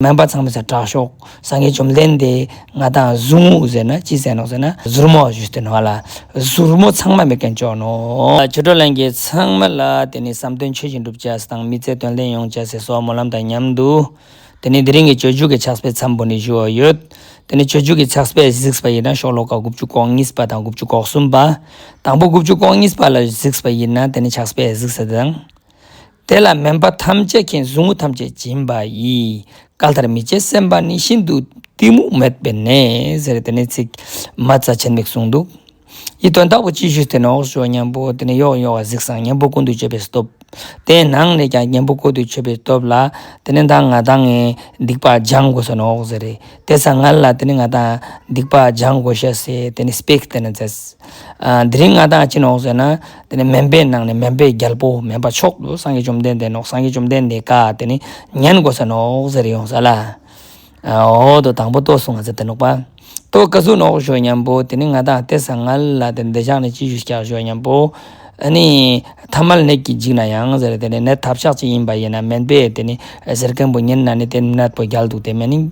སྨན་པ་ཚང་མས་ཟེར་དྲག་ཤོག་སང་གེ་བཅོམ་ལྡན་འདས་ང་དང་གཟུགས་ངོ་ཟེར་ན་ཅི་ཟེར་ནོ་ཟེར་ན་གཟུར་མོ་བཞུ་སྟེ་ནོ་ལ་གཟུར་མོ་ཚང་མ་མི་དགེ་མཆོག་ནོ། ཆོས་གྲོགས་ལན་གྱི་ཚང་མ་ལ་དེ་ནས་བསམ་དོན་ཆོས་ཀྱི་འགྲུབ་བྱ་ཟེར་དང་མི་ཚེ་དོན་ལྡན་ཡོང་བྱ་ཟེར་སོགས་སྨོན་ལམ་དང་མཉམ་དུ། དེ་ནས་དེ་རིང་གི་ཆོས་འཇུག་གི་ཕྱག་སྤེལ་མཚམས་བུ་ནས་བཞུ་བ་ཡོད། དེ་ནས་ཆོས་འཇུག་གི་ཕྱག་སྤེལ་གཟིགས་པ་ཡིན་ན་ཤོག་ལོ་ཀ་དགུ་བཅུ་གོང་གཉིས་པ་དང་དགུ་བཅུ་གོག་གསུམ་པ། དང་པོ་དགུ་བཅུ་གོང་གཉིས་པ་ལ་གཟིགས་པ་ཡིན་ན་དེ་ནས་ཕྱག་སྤེལ་གཟིགས་ཟེར་དང། དེ་ལ་མིན་པ་ཐམས་ཅད་མཁྱེན་ཟུག་རྔུ་ཐམས་ཅད་སྦྱིན་པ་ཡི། སྐལ་ལྟར་མི་བྱེད་སེམས་དཔའ་ནི་ཤིན་ཏུ་གཏི་མུག་མེད་པའི་གནས། ཟེར་རེ་དེ་ནས་ཚིག་མ་རྩ་ཆེན་མིག་ཟུང་འདུག། ཡིད་དོན་དག་པོ་ཅི་བཞུགས་དེ་ནས་འོག་ཞུ་བ་གཉེན་པོ་དེ་ནས་གཡོག་གཡོག་བ་གཟིགས་སམ་གཉེན་པོ་ཀུན་ཏུ་སྤྱོད་པའི་སྟོབས། དེ་ནང་ནས་ཀྱང་གཉེན་པོ་ཀུན་ཏུ་སྤྱོད་པའི་སྟོབས་ལ། དེ་ནས་དང་ང་དང་ངའི་སྡིག་པ་སྦྱང་དགོས་ཟེར་ནས་འོག་ཟེར་རེ་དེ་ཚ་ང་ལ་དེ་ནས་ང་དང་སྡིག་པ་སྦྱང་དགོས་ཤ་ཟེར་དེ་ནས་སྤེགས་དེ་ནས་ཟེར། དེ་རིང་ང་དང་ཅི་ནས་འོག་ཟེར་ན། དེ་ནས་སྨན་པའི་ནང་ནས་སྨན་པའི་རྒྱལ་པོ་སྨན་པ་མཆོག་ཏུ་སངས་རྒྱས་བཅོམ་ལྡན་འདས་ནོ། སངས་རྒྱས་བཅོམ་ལྡན་འདས་བཀའ་དེ་ནི་ཉན་དགོས་ས་ནོ་ཟེར་ཡོང་ས་ལ། འོ་དོ་དང་པོ་ལྟོས་སོང་ང་ཚེ་དེ་ནོག་པ། ལྟོས་བཀའ་ཟུར་ནོག་ཞོ་སྙམ་པོ་དེ་ནི་ང་དང་ལྟས་ས་ང་ལ་དེ་འདི་ཕྱག་ནི་ཅི་ཞུ་ཤག་ཞོ་སྙམ་པོ། ཨ་ནི། ཐ་མལ་ནད་ཀྱིས་འཇིགས་ན་ཡང་ཟེར་དེ་ནི་ནད་ཐབས་ཤག་ཅིག་ཡིན་པ་ཡིན་ན་སྨན་པས་དེ་ནི་ཟེར་མཁན་པོ་ཉིན་ན་ནི་དེ་ནད་པོ་རྒྱལ་འདུག་དེ་སྨན་ནི།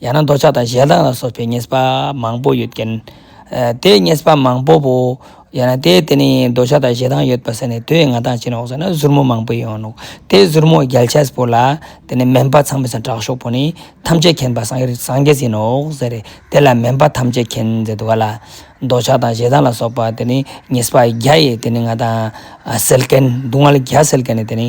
ཡང་ན་འདོད་ཆགས་དང་ཞེ་སྡང་ལ་སོགས་པའི་ཉེས་པ་མང་པོ་ཡོད་ཀྱི། དེའི་ཉེས་པ་མང་པོ་པོ། ཡང་ན་དེའི་དེ་ནི་འདོད་ཆགས་དང་ཞེ་སྡང་ཡོད་པ་ཟེར་ནས་དུས་ང་ཐང་ཆེན་འོག་ཟེར་ན་གཟུར་མོ་མང་པོ་ཡོང་ནོ། དེའི་གཟུར་མོ་རྒྱལ་ཆས་པོ་ལ། དེ་ནི་སྨན་པ་ཚང་མས་ཟེར་དྲག་ཤོག་པོ་ནི། ཐམས་ཅད་མཁྱེན་པ་སངས་རྒྱས་ཟིན་ནོ་ཟེར་རེ། དེ་ལ་སྨན་པ་ཐམས་ཅད་མཁྱེན་ཟེར་དུ་ག་ལ། འདོད་ཆགས་དང་ཞེ་སྡང་ལ་སོགས་པ་དེ་ནི་ཉེས་པ་བརྒྱ་ཡི་དེ་ནི་ང་ཐང། སེལ་མཁན་སྡུག་བསྔལ་བརྒྱ་སེལ་མཁན་ནི་དེ་ནི།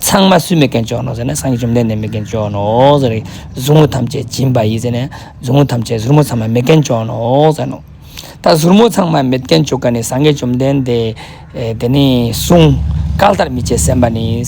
ཚངས་མ་སུ་མེ་རྒན་ཅོག་ནོ་ཟེར་ནས་སངས་རྒྱས་བཅོམ་ལྡན་འདས་མེ་རྒན་ཅོག་ནོ་ཟེར། ཟུག་རྔུ་ཐམས་ཅད་འབྱིན་པ་ཡིས་ཟེར་ནས་ཟུག་རྔུ་ཐམས་ཅད་ཟུར་མོ་ཚངས་མ་མེ་རྒན་ཅོག་ནོ་ཟེར་ནོ། ད་ཟུར་མོ་ཚངས་མ་མེ་རྒན་ཅོག་ག་ནི་སངས་རྒྱས་བཅོམ་ལྡན་འདས་དེ་ནི་གསུང། བཀའ་ལྟར་མི་བྱེད་སེམས་པ་ནི།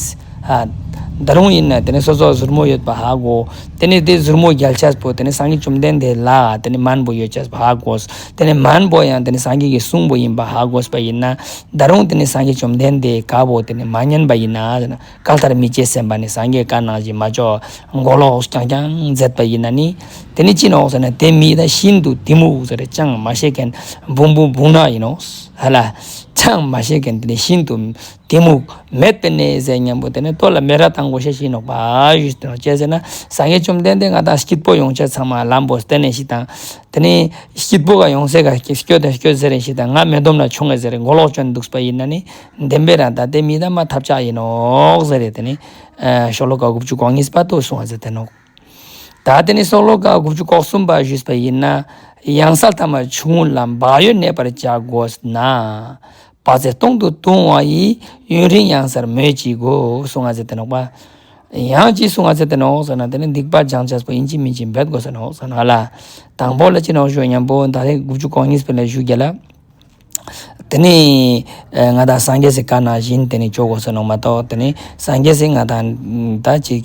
འདི་རུང་ཡིན་ནོ་དེ་ནི་སོ་སོར་ཟུར་མོ་ཡོད་པ་ཧ་གོ། དེ་ནི་དེ་ཟུར་མོ་རྒྱལ་བྱེད་པོ་དེ་ནི་སངས་རྒྱས་བཅོམ་ལྡན་འདས་ལ་དེ་ནི་སྨན་པོ་ཡོད་བྱེད་པ་ཧ་གོ། དེ་ནི་སྨན་པོ་ཡང་དེ་ནི་སངས་རྒྱས་ཀྱི་གསུང་པོ་ཡིན་པ་ཧ་གོ་སྲིད་པ་ཡིན་ན། ད་རུང་དེ་ནི་སངས་རྒྱས་བཅོམ་ལྡན་འདས་དགའ་བོ་དེ་ནི་མ་མཉན་པ་ཡིན་ན། བཀའ་ལྟར་མི་བྱེད་སེམས་པ་ནི་སངས་རྒྱས་བཀའ་གནང་བཞིན་མ་ལྕོགས། མགོ་ལོག་རྐྱང་རྐྱང་མཛད་པ་ཡིན་ན་ནི། དེ་ནི་ཅི་ནོག་ཟེར་ན་དེ་མི་ད་ཤིན་ཏུ་གཏི་མུག་ཟེར་ཅང་མ་ཤེས་མཁན་བུང་བུ་བུང་ནག་ཡིན་ནོ། ཧ་ལ། ཅང་མ་ཤེས་མཁན་དེ་ནི་ཤིན་ཏུ་གཏི་མུག་མེད་པའི་གནས་ཟད་སྙམ་པོ་དེ་ནི་ལྟོ་ལ་མེ་ར་དང་གོ་ཤ་ཤིན་ནོག་པ། ཅེས་ཟེར་ན་སངས་རྒྱས་བཅོམ་ལྡན་འདས་ང་དང་སྐྱིད་པོ་ཡོང་བྱེད་ཚང་མ་ལམ་པོ་གཏན་ནས་ཞིག་དང། དེ་ནས་སྐྱིད་པོ་ག་ཡོང་ཟེར་ག་སྐྱོ་དང་སྐྱོ་ཟེར་རེ་ཞིག་དང་ང་མེ་ལྡོམ་ལ་ཆོང་ངེ་ཟེར་རེ་མགོ་ལོག་གྱོན་འདུག་པ་ཡིན་ན་ནི་བདེན་པའི་རང་ད་ལྟའི་མི་དང་མ་ཐབས་ཆག་ཡིན་ནོག་ཟེར་རེ་དེ་ནི། ཤོག་ལོ་ག་དགུ་བཅུ་གོག་གཉིས་པ་ཏོ་སོང་བ་ཟེར་དེ་ནོག་ད་དེ་ནི་སོག་ལོ་ག་དགུ་བཅུ་གོག་གསུམ་པ་བཞུས་པ་ཡིན་ན་ཡང་ས་མཐའ་མ་ཆུང་ལ་འབག་ཡོད་གནས་པར་བྱ་དགོས་ན། པ་ཚེ་སྟོང་དུ་ལྟུང་བ་ཡི། ཡུན་རིང་གཡང་སར་མོས་ཀྱིས་བསྒོ། སུ་ང་ཚེ་དེ་ནོག་པ། ཡང་ཅི་སུ་ང་ཚེ་དེ་ནོག་ཟེར་ན་དེ་ནི་སྡིག་པ་སྦྱང་བྱ་སོགས་ཡིན་གཅིག་མིན་གཅིག་འབད་དགོས་ཟེར་ནོག་ཟེར་ནོག་ལ། དང་པོ་ལ་ཅི་ནོག་ཞུ་བ་སྙམ་པོ་ད་རེས་དགུ་བཅུ་གོ་གཉིས་པའི་ལས་ཞུ་རྒྱལ་ལ། དེ་ནི། ང་དང་སངས་རྒྱས་སེ་ཀ་ན་བཞིན་དེ་ནི་ཆོག་གོ་ཟེར་ནོག་མ་གཏོགས་དེ་ནི་སངས་རྒྱས་སེ་ང་དང་ད་ཅིག།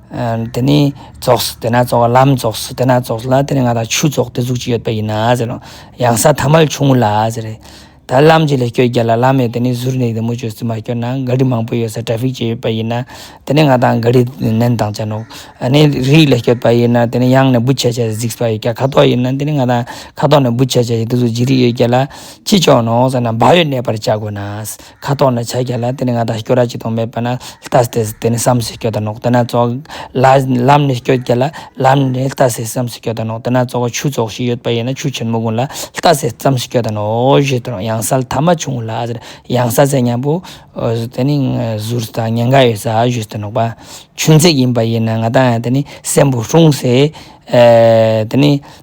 དེ་ནི་རྫོགས་དེ་ན་རྫོགས་ལམ་རྫོགས་དེ་ན་རྫོགས་ལ་དེ་ནི་ང་དང་ཆུ་རྫོགས་ཏེ་གཟུགས་ཅི་ཡོད་པ་ཡིན་ན་ཟེར་རོ། གཡང་ས་ཐ་མལ་ཆུང་ངུ་ལ་ཟེར་རེ། ད་ལམ་གྱི་ལས་སྐྱོ་རྒྱ་ལ་ལམ་ཡོད་དེ་ནི་ཟུར་ནས་དེ་མུ་ཅོ་སི་མ་སྐྱོ་ན་ག་རི་མང་པོ་ཡོད་ས་ཏྲ་ཕིག་ཅེ་ཡོད་པ་ཡིན་ན་དེ་ནི་ང་དང་ག་རི་ནན་དང་ཅན་ནོ། ཨ་ནི་རིགས་ལས་སྐྱོ་པ་ཡིན་ན་དེ་ནི་གཡང་ནས་བུ་ཆ་ཆ་གཟིགས་པ་ཡོད་ཀྱ་ཁ་དོག་ཡིན་ན་དེ་ནི་ང་དང་ཁ་དོག་ནས་བུ་ཆ་ཆ་ཡོད་དེ་གཟུགས་ཅི་རིགས་ཡོད་ཀྱ་ལ་ཅི་ཅོ་ནོ་ཟེར་ན་བག་ཡོད་གནས་པར་བྱ་དགོས་ན། ཁ་དོག་ནི་ཆ་རྒྱ་ལ་དེ་ནི་ང་དང་སྐྱོ་ར་གཅིག་དང་མེད་པ་ན་ལྟ་སྟེ་དེ་ནི་བསམ་སེ་སྐྱོ་དང་ནོག་དེ་ན་ཙོག། ལམ་ནི་སྐྱོ་རྒྱ་ལ་ལམ་ནི་ལྟ་སེ་བསམ་སེ་སྐྱོ་དང་ནོག་དེ་ན་ཙོག་ཆུ་ཙོག་ཞིག་ཡོད་པ་ཡིན་ན་ཆུ་ཆེན་མོ་དགུང་ལ་ལྟ་སེ་བསམ་སེ་སྐྱོ་དང་ནོག་ཞེས་དོན་གཡང་སལ་ཐ་མ་ཆུང་ངུ་ལ་གཡང་ས་ཚད་མཉམ་པོ། དེ་ནི་ཟུར་དང་ཉེན་ཁ་ཡོད་ས་ཞེས་དོན་ནོག་པ་ཆུ་འཛེག་ཡིན་པ་ཡིན་ན་ང་དང་ཡང་དེ་ནི་སེམས་བོ་ཧྲུང་སེ། དེ་ནི།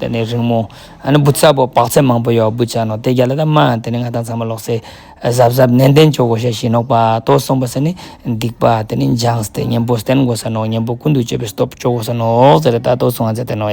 དེ་ནས་རིང་མོ། ཨ་ནི་བུ་ཚ་པོ་བག་ཚད་མང་པོ་ཡོད་བུ་ཅག་ནོ་དེ་རྒྱ་ལ་ད་སྨྲ། དེ་ནས་ང་དང་ཚང་མ་ལོག་སའི། གཟབ་གཟབ་ནན་ཏན་ཅོག་གོ་ཤ་ཞིག་ནོག་པ་ཏོ་སོང་པ་ས་ནི། སྡིག་པ་དེ་ནི་འཇང་སྟེ་གཉན་པོ་སྟན་དགོ་ས་ནོག་གཉན་པོ་ཀུན་ཏུ་སྤྱོད་པའི་སྟོབས་ཅོག་གོ་ས་ནོག་ཟེར་རེ་ད་ཏོ་སོང་ང་ཚ་དེ་ནོ།